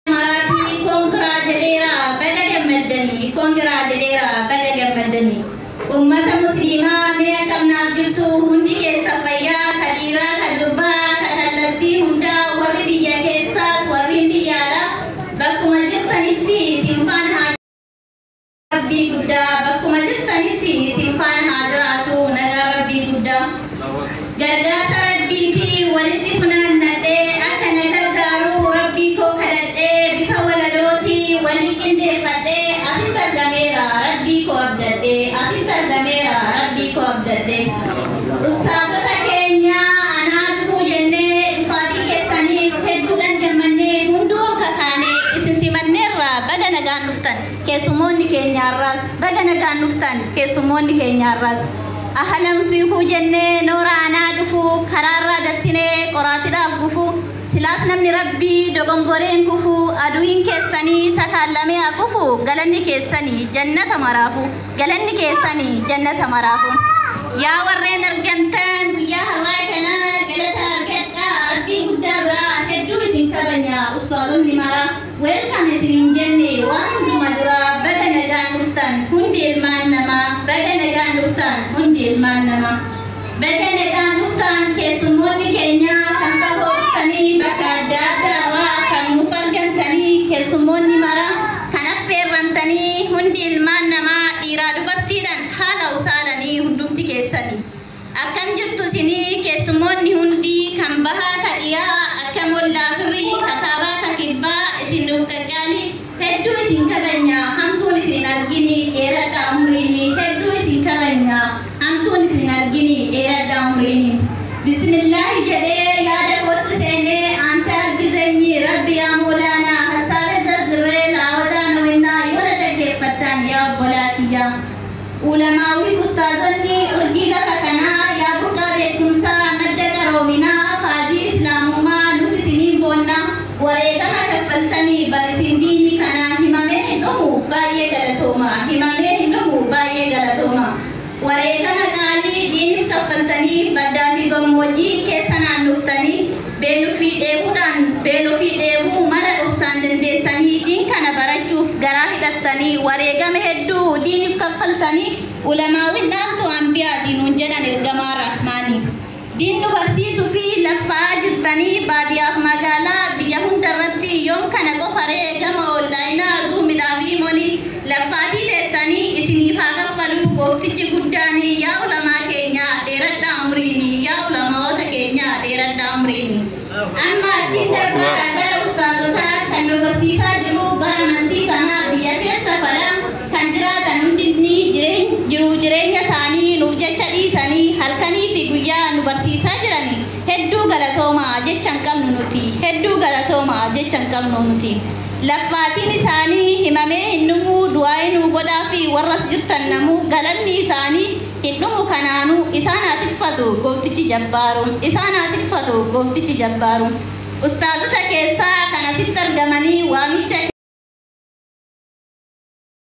Maatii kongiraa jedheera baga gammaddanii kongiraa jedheera baga gammaddanii ummata musliimaa mee akkam naaf jirtu hundi keessan fayyaa ka dhiiraa ka durbaa ka kallattii hundaa warri biyya keessaas warri biyya alaa bakkuma jirtanitti isin faana haa Rabbii guddaa bakkuma jirtanitti isin faana haa jiraatu nagaan rabbii guddaa gargaarsa rabbiiti walitti funaannadhee akka na gargaaru rabbii koo kadhadhee bifa walalooti walii qindeeffadhee asitti argameera rabbii koo abdadhee asitti argameera rabbii koo abdadhee ustaazota keenya anaa dhufuu jennee dhufaatii keessaniif hedduudhaan gammannee hunduu akka kaanee isin simanneerra baga nagaan dhuftan. Keessummoonni keenya har'aas baga nagaan dhuftan keessummoonni keenya har'aas ahalan fiikuu jennee noora anaa dhufuu karaarraa dabsinee qoraatidhaaf gufuu silaas namni rabbii dogongoree hin kufuu aduwiin keessanii sakaallamee haa kufuu galanni keessanii jannata maraafuu galanni keessanii jannata maraafuu yaa warreen argamtan guyyaa har'aa kana galata argadhaa rabbii guddaa biraa hedduu isin kabanya ustaazonni maraa Welcome isin hin jenne waan hunduma dura baga nagaan dhuftan hundi ilmaan nama baga nagaan dhuftan hundi ilmaan nama baga nagaan dhuftan keessummoonni keenya kan fagoo dhuftanii bakka adda adda irraa kan nuuf argamtanii keessummoonni mara kan affeerramtanii hundi ilmaan namaa dhiiraa dubartiidhan haala usaalanii hundumti keessanii. Akkam jirtu isinii keessummoonni hundi kan bahaa ka dhiyaa akkam ollaa firrii ka kaabaa ka kibbaa isin nuuf qaqqaalii hedduu isin kabanyaa hamtuun isin hin arginii dheeradhaa umriinii hedduu isin kabanyaa hamtuun isin hin arginii dheeradhaa umriinii Bismillaahi jedhee yaada kootti seenee aante argizenyii rabbi yaa moolaanaa hassaabe zarzirree laawadaa nowennaa yoo na dhaggeeffattan yaa obbolaa kiyyaa Ulamaawwiif ustaazonni urjii lafa kanaa yaa burqaa beekkumsaa madda qaroominaa faajii islaamummaa nuti isiniin boonna wareegama kaffaltanii bar isin diinii kanaa himamee hin dhumu baay'ee galatooma himamee hin dhumu baay'ee galatooma wareegama qaalii diinif kaffaltanii baddaa fi gammoojjii keessa naannoftanii Beellu fi dheebuudhaan beelo fi dheebuu mara obsaan dandeessanii diin kana barachuuf garaa hidhattanii wareegama hedduu diinif kaffaltanii ulamaawin dhaamtu anbiyaati nuun jedhan ergamaa rahmaani diin nu barsiisu fi laffa'aa jirtanii baadiyaaf magaalaa biyya hunda irratti yoom kana qofa ree gama oonlaayinaa zuumidhaa fi moni Laffaatii teessani isiniif haa kaffaluu gooftichi guddaani yaa ulamaa keenyaa dheeradhaa umriini yaa ulamaoota keenyaa dheeradhaa umriini. Amma achiin darbaadha gara ustaazotaa kan nu barsiisaa jiru bara amantii kana biyya keessa fala kan jiraatan hundinni jireen jiruu jireenya isaanii nuuf jecha dhiisanii halkanii fi guyyaa nu barsiisaa jirani hedduu galatoomaa jecha hin qabnu nuti hedduu galatoomaa jecha hin qabnu nuti. Laf maatiin isaanii himamee hin dhumuu du'aa'ii nuu godhaafi warra as jirtan namuu galanni isaanii hin dhumu kanaanuu isaan haa tikfatu gooftichi jabbaaruun isaan haa tikfatu gooftichi jabbaaruun ustaazota keessaa kan asitti argamanii waamicha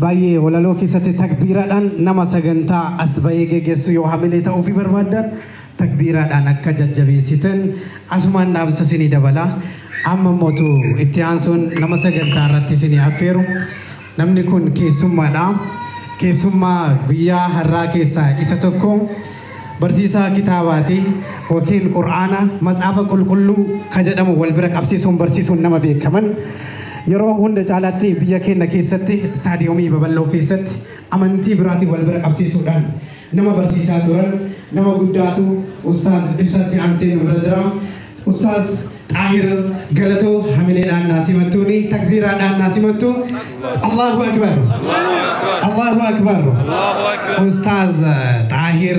Baay'ee walaloo keessatti takbiiraadhaan nama sagantaa as ba'ee geggeessu yoo hamilee ta'uufii barbaaddan takbiiraadhaan akka jajjabeessitan asumaan dhaamsa isinii dabala. Amma immootu itti aansuun nama sagantaa irratti isinii affeeru. Namni kun keessummaadha. Keessummaa guyyaa har'aa keessaa isa tokko. Barsiisaa kitaabaatii wakiil Qur'aana, Matsaafa Qulqulluu, ka jedhamu wal bira qabsiisuun barsiisuun nama beekaman, yeroo hunda caalaatti biyya keenna keessatti istaadiyoomii babal'oo keessatti amantii biraatiin wal bira qabsiisuudhaan nama barsiisaa turan, nama guddaatu Ustaaz Ibsaatti aansee nu bira jira. Ustaaz Xaahir Galatoo hamileedhaan naa simattuuni takbiiraadhaan naa simattu Allahu Akbar Allahu Akbar Ustaaz Xaahir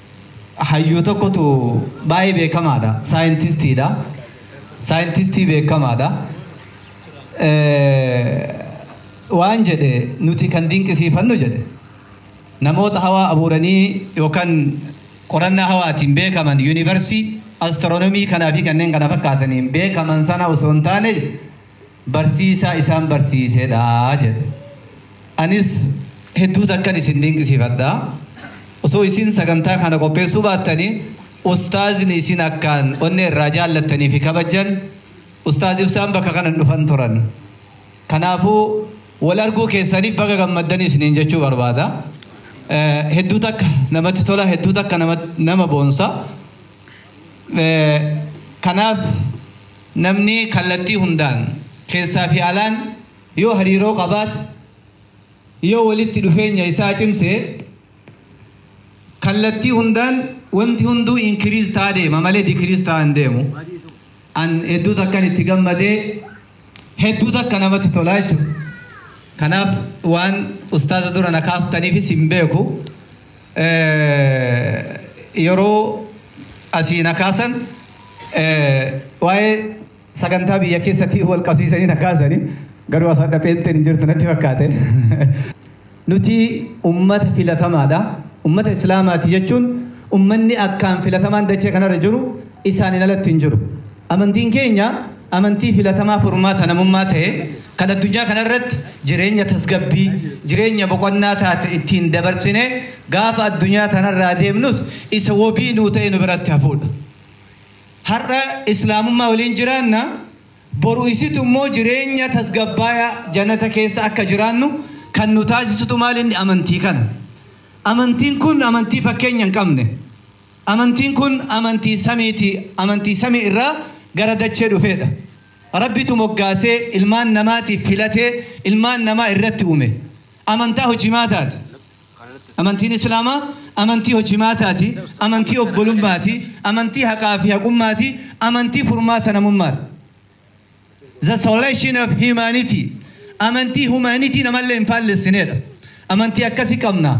Hayyuu tokkotu baay'ee beekamaadha. Saayintistiidha. Saayintistii beekamaadha. Waan jedhe nuti kan dinqisiifannu jedhe namoota hawaa abuuranii yookaan qorannaa hawaatiin beekaman yuunivarsii astiroonomii kanaa fi kanneen kana fakkaataniin beekaman sana osoo hin taane barsiisaa isaan barsiisee dha jedhe. Anis hedduu takkan isin dinqisiifadha. Osoo isin sagantaa kana qopheessuu baattanii ustaazni isin akkaan onnee irraa jaallattanii fi kabajjan ustaaz Ibsaan bakka kana hin dhufan turan. Kanaafuu wal arguu keessaniif baga gammaddan isiniin jechuu barbaada. Hedduu takka namatti tola, hedduu takka nama boonsa. Kanaaf Namni kallattii hundaan, keessaa fi alaan, yoo hariiroo qabaate, yoo walitti dhufeenya isaa cimse, kallattii hundaan wanti hunduu increase ta'aa deema malee decrease ta'aa hin deemu. An hedduu takkan itti gammadee, hedduu takka namatti tolaa jechuudha. Kanaaf waan ustaaza dura na kaaftaniifis hin beeku. yeroo asii na kaasan waa'ee sagantaa biyya keessatii wal qabsiisanii na kaasanii garuu as adda pheenxeen hin jirtu natti fakkaate. Nuti ummata filatamaadha. Ummata Islaamaati jechuun ummanni akkaan filatamaan dachee kanarra jiru isaaniin alatti hin jiru. Amantiin keenya amantii filatamaa furmaata namummaa ta'e, kan addunyaa kana irratti jireenya tasgabbii, jireenya boqonnaa taate ittiin dabarsinee gaafa addunyaa tana irraa deemnus isa wabii nuu ta'ee nu biratti hafuudha. Har'a Islaamummaa waliin jiraanna, boru isitu immoo jireenya tasgabbaayaa Jannata keessa akka jiraannu kan nu taasisutu maal inni? Amantii kana. Amantiin kun amantii fakkeenya hin qabne. Amantiin kun amantii samiiti, amantii samii irraa gara dachee dhufeedha. Rabbitu moggaasee ilmaan namaatiif filatee ilmaan namaa irratti uume. Amantaa hojimaataati. Amantiin Islaamaa amantii hojimaataati, amantii obbolummaati, amantii haqaa fi haqummaati, amantii furmaata namummaadha. The Solution of Humanity, amantii humanity namallee hin faallessineedha. Amantii akkasii qabna.